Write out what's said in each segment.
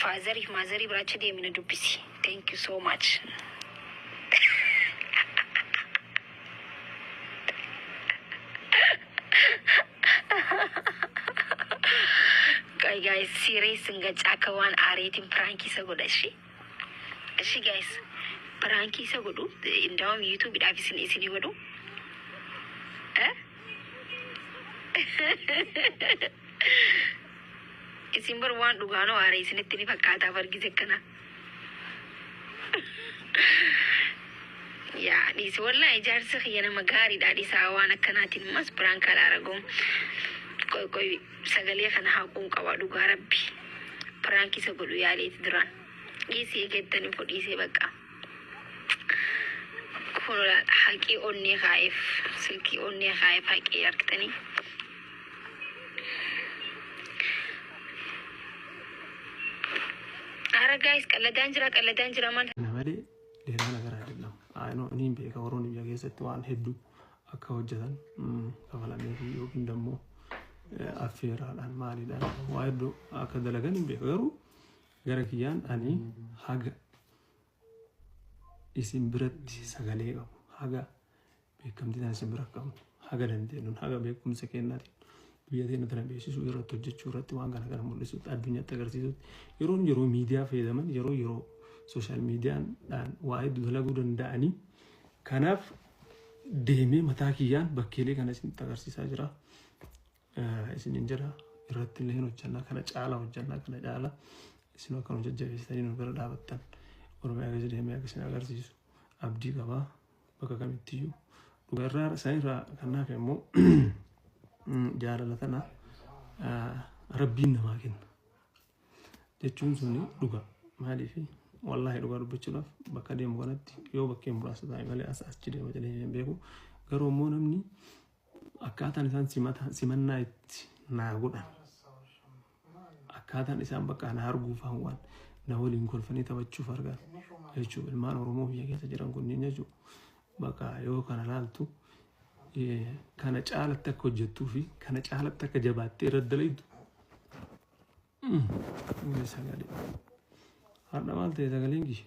Faazari fi maazarii bira achi deemi na dubbisi. Thank you so much. Qoy guys serious hin gachaa akka waan aareetiin piraankii isa godha ishee. Ishee guys piraankii isa godhu indaawam yuutuubiidhaaf isin isinii godhu. Eh? Isin bar waan dhugaanoo aare isinitti ni fakkaataaf argise kana. Yaa dhiisi wallaa ijaarsa kiyya nama gaariidha dhisaa waan akkanaatiin mas biraan kalaa ragoom. Qoy qoy sagalee kana haquun qaba dhugaa rabbi. Piraanki isa godhu yaaleeti duraan. Dhiisi eegettani fudhiisee baqqaa. Kora haqii onnee kaa'eef silkii onnee kaa'eef haqii argitanii. Ara gaayis qalladaan jira qalladaan jira maal Kana malee dheeraa nagaraa jedhama. Aanoo inni hin beeka warroonni biyya keessatti waan hedduu akka hojjetan mm, kafalamee fi yookiin immoo eh, affeeraadhaan maaliidhaan waa hedduu akka dalagan hin beeka. Garuu gara kiyyaan ani haga isin biratti sagalee qabu haga beekamtii tana isin bira qabnu haga dandeenyuun haga beekumsa kennaatiin biyya teenya tana beeksisuu irratti hojjechuu irratti waan kana kana mul'isuutti addunyaatti agarsiisuutti yeroo yeroo miidiyaa fayyadaman yeroo yeroo sooshaal miidiyaadhaan waa hedduu dalaguu danda'anii kanaaf deemee mataa kiyyaan bakkeelee kana isinitti agarsiisaa jira. isinin jedha irratti illee hin hojjannaa kana caala hojjannaa kana caala isin akka nu jajjabeessitanii nu bira dhaabattan oromiyaa keessa deemee akka isin agarsiisu abdii qaba bakka kamittiyyuu dhugaa irraa isaan irraa kan naafe immoo jaalala tana rabbiin namaa kenna jechuun suni dhuga maaliif wallaahi dhugaa dubbachuudhaaf bakka deemu kanatti yoo bakkee muraasa ta'e malee as achi deema jedhee hin beeku garuu immoo namni Akkaataan isaan simata simannaa itti naa godhan akkaataan isaan bakka na arguufaan waan na waliin kolfanii taphachuuf argan jechuudha. Ilmaan Oromoo biyya keessa jiran kunniin jechuudha. Bakka yoo kana laaltu eh, kana caalatti akka hojjettuu fi kana caalatti akka jabaattee irra dalaydu. Mm. Sagalee. Har'a maal ta'e sagaleen kiyya?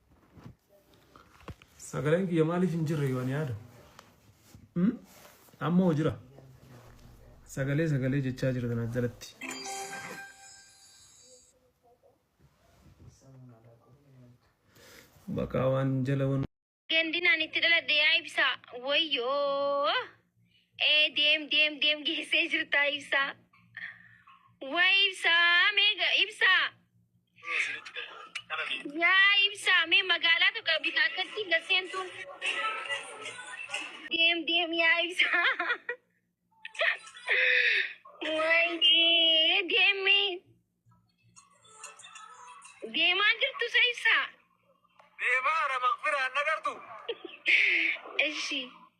Sagaleen kiyya maaliif hin jirre yoon yaada? Hmm? Amma hoo jira? Sagalee sagalee jechaa jira tana jalatti. Bakka waan jala waan Gandinaan itti dhaladhe yaa ibsaa. Wayyoo. Ee deem deem deem geessee jirtaa ibsaa. Way ibsaa meega ibsaa. Yaa ibsaa mee magaalaa tokko bita akkatti garseentuun deem deem yaa ibsaa. Wayii deemi deemaa jirtu sa ibsaa. Deemaa ara maqfiraan nagartu. Ishi.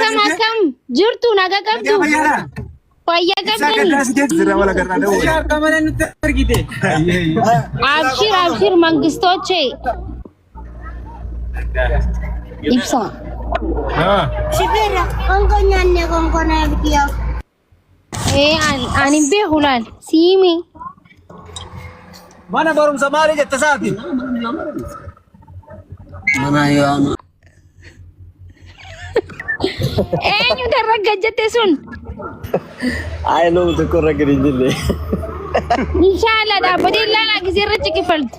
Kam akkam jirtu naga qabdu. Fayyaa qabdani. Abshir abshir mangistoche. Ibsa. Shifeera, konkolaataan konkolaataa biyyaa. Ani hin beeku laal. Siimi. Mana barumsa maali jette isaati? Mana yaama. Eenyu darragga jette sun? Ayi lomu tokko irra gadi hin jirre. Inshaalla dhaabbatee ilaalaa gisee irra ciqifaltu.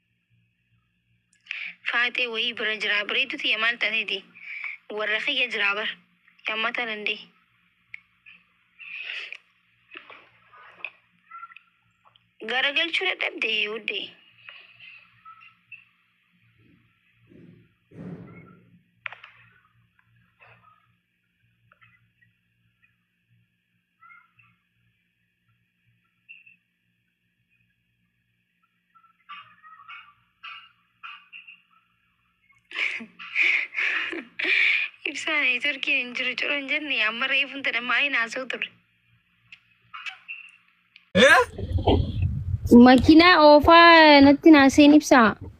Faaxee wayii bira jiraa bareedduu tiyya maal taateti warra kiyya jiraa bar yammataa dandee. Garagalchuu dadhabde wuddee. Ibsaan neetworkiin hin jiru ciroo hin jenne amma reefuun tana maayii naasoo ture. Makiinaa oofaa natti naaseen ibsaa.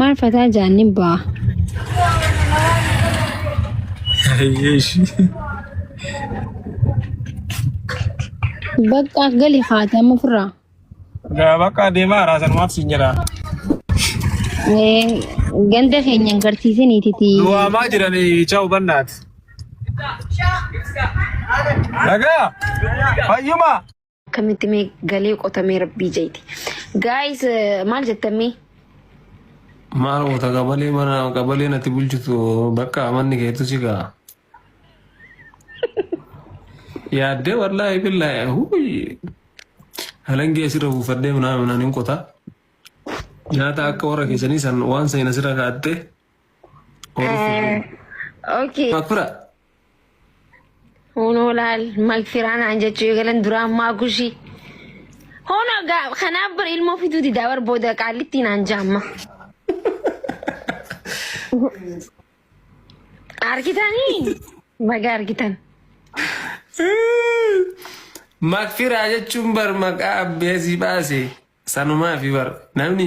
Maal fataa jaanni baa. Baqqaaf gali haatama ofirraa. Bakka adeemaa raasan maaf siin jedha. Ganda keenya hin garsiisiniititi. Duwwaamaa jiran ichaa hubannaati. Dhagaa fayyumaa. Akkamitti mee galee qotamee rabbii jeeti. Guys eh, maal jettan mee? Maal goota qabalee mana qabalee natti bulchitu bakka manni keetu si ga'a. Yaaddee wallaahi billaahi huuyi. Halangee asirra buufadhee minaa minaan hin qota. Nyaata akka warra keessanii san waan seena sirra kaa'attee. Okay. Makura. Hunoo laal magfiraa naan jechuu eegalan duraa ammaa kushii. Hono gaa- kanaaf bar ilmoo fiduu didaa bar booda qaallitti naan jaamma. Argitanii? Baga argitan. Makfiraa jechuun bar maqaa abbeesii baase sanumaa fi bar namni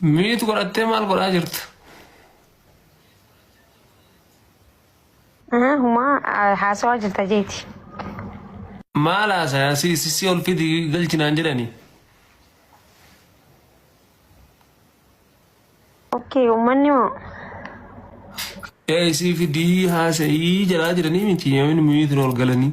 Miit godhattee maal godhaa jirtu? Ah, Humaa ah, haasawaa jirta jeeti. Maal haasaya si si si ol fidi galchinaan jedhani. Okkee uummanni moo? Ee isii fidii haasa'ii jedhaa jiranii miti yoomiin miitiin ol galanii.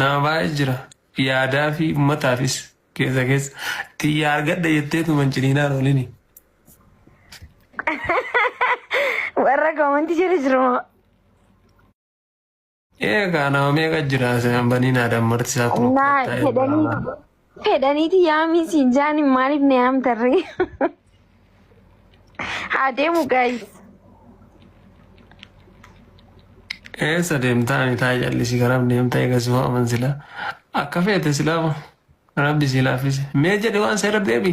Nama baay'ee jira yaadaa fi ummataafis keessa keessa tiyya argadha jettee tuman ciniinaan oolini. Warra koomantii jala jiru moo. Eegaa nama meeqa jira seenaan banii naadaan marti isaa kun Naa fedhanii Fedhaniiti yaamii siin jaaniin maaliif na yaamtarree? Haa deemu gaayis. Eessa deemtaa ani taa jallisii karaaf deemtaa eegas hoo aman silaa akka feete silaama rabbi si laaffise mee jedhe waan seera deebi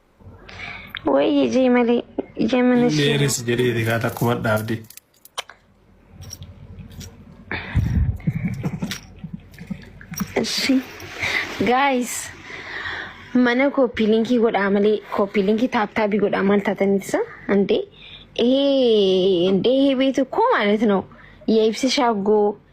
Wayyi jee malee ija mana ishee. Dheeris jedhee rigaa takkuma dhaabde. Ishi. Guys. Mana koppii linkii godhaa malee koppii linkii taaptaabii godhaa maal taatanitsa andee. Ehee andee hee beetu koo maalet noo. Yaa ibsa shaagoo.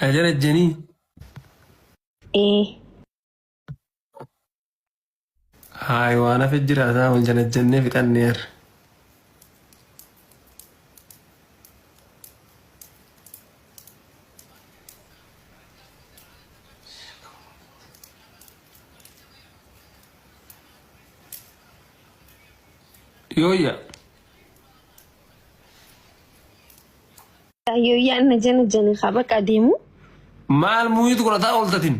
Na jala janii. Ee. Haay waan hafe jira isaa wal jala jennee fixannee har'a. Yooyya. Yooyyaan na jana jana haa baqa deemu. Maal muuyit godhataa ooltatin?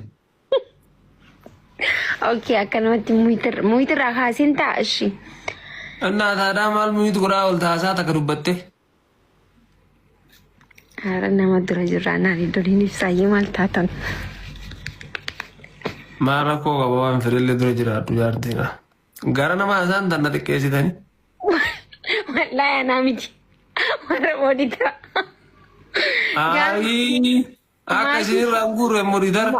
Ookee akkanumatti muyitirraa kaasin ta'a ishii. Innaa taadaa maal muuyit godhaa oolta haasaa takka dubbatte? Haara nama dura jirraa naan iddoliin ibsaayyee maal taatan. Maal rakkoo qaba waan fedhellee dura jiraadhu jaartiidha. Gara nama hasaan tanna xiqqeessitani. Wallaahi anaa miti. Warra booditaa. Aayii akka isin irraa hin guurre immoo diidara.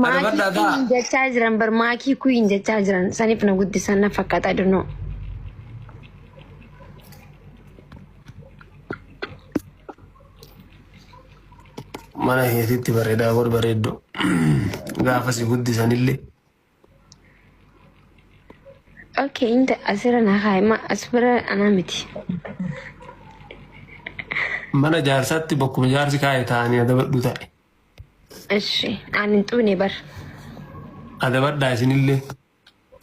Maakii Adabadhaa kuyiin ta'a. jechaa jiran bar maakii kuyiin jechaa jiran saniif na guddisan na fakkaata dunoo. Mana keetitti bareedaa godh bareeddu. Gaafa si guddisanillee Okay, inta asirra naa kaa'ima as bira anaa miti. Mana jaarsaatti bakkuma jaarsi kaa'e taa'anii adabadhu ta'e. Ishi aan hin xuune bar. Adabadhaa isinillee.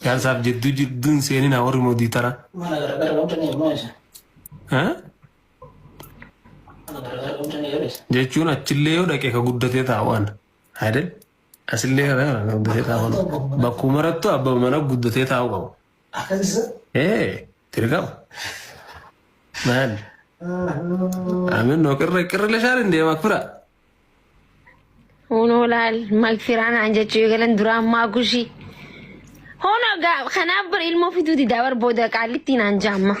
Jaarsaaf jidduu jidduu hin seeninaa warri moodii tara. Mana garagara wanta ni immoo isa. Ha? Mana garagara wanta ni yeroo isa. Jechuun achillee yoo dhaqe ka guddatee taa'u ana. Haadha. Asillee kana kana kan guddatee taa'u qabu. Bakkuu marattu abba mana guddatee taa'u qabu. Ee dirqama. Maal? Amin noo qirra qirra leshaan hin deema kura. Hunoo laal magfiraan aan jechuu eegalan duraan maa gushii. Hunoo gaa kanaaf bar ilmoo fiduu didaa bar booda qaallittiin aan jaamma.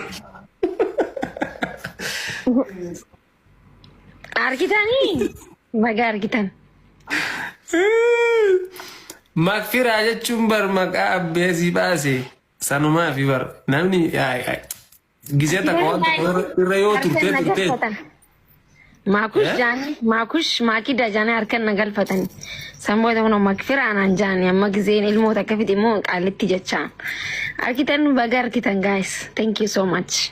Argitanii? Baga argitan. Makfiraa jechuun bar maqaa abbee si baase sanumaa fi bar namni gisee takka waan tokko irra yoo turtee turtee. Maakush jaanii maakush maakida jaanii harkan na galfatan. Sammuu ta'uun makfiraa naan jaanii amma giseen ilmoo takka fide immoo qaalitti jechaa. Argitan baga argitan guys. Thank you so much.